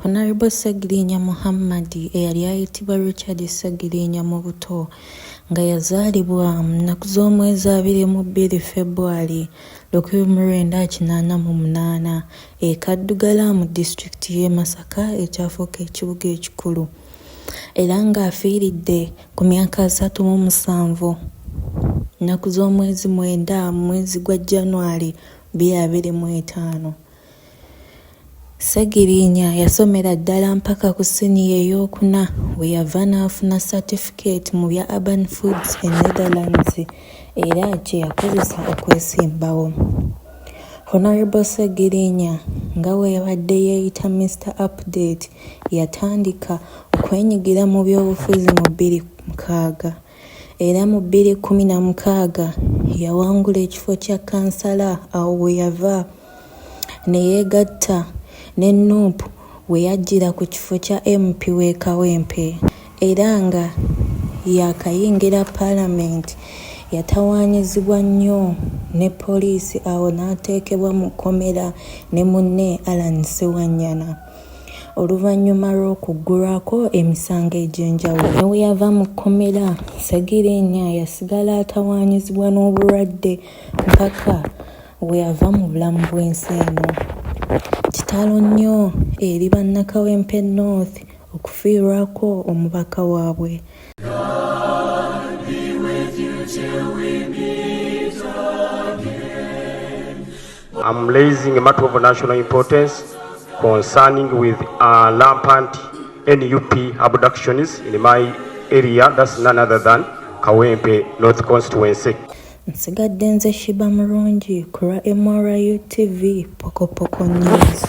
Honourable Ssegiriinya Muhammad eyali ayitibwa Richard Ssegiriinya mu buto nga yazaalibwa mu nnaku z'omwezi abiri mu bbiri February lukumi mu lwenda kinaana mu munaana e Kaddugala mu disitulikiti y'e Masaka ekyafuuka ekibuga ekikulu era ng'afiiridde ku myaka asatu mu musanvu nnaku z'omwezi mwenda mu mwezi gwa January bbiri abiri mu etaano. Ssegiriinya yasomera ddala mpaka ku siniya ey'okuna we yava n'afuna satifikeeti mu bya Urban Foods e Netherlands era kye yakozesa okwesimbawo. Hon. Ssegiriinya nga bwe yabadde yeeyita Mister Update yatandika okwenyigira mu byobufuzi mu bbiri mukaaga era mu bbiri kkumi na mukaaga yawangula ekifo kya kkansala awo we yava ne yeegatta ne nup we yajjira ku kifo kya MP w'e Kawempe era nga yaakayingira Palamenti yatawaanyizibwa nnyo ne poliisi awo n'ateekebwa mu kkomera ne munne Allan Ssewanyana oluvannyuma lw'okuggulwako emisango egy'enjawulo. Ne bwe yava mu kkomera, Ssegirinya yasigala atawaanyizibwa n'obulwadde mpaka Weava mu bulamu bw'ensi eno. Kitalo nnyo eri bannakawempe North okufiirwako omubaka waabwe. I'm raising a matter of national importance concerning with uh, rampant NUP abductions in my area, that's none other than Kawempe North Constituency. Nsigadde nze Sheebah Murungi ku lwa MRU TV Pokopoko News.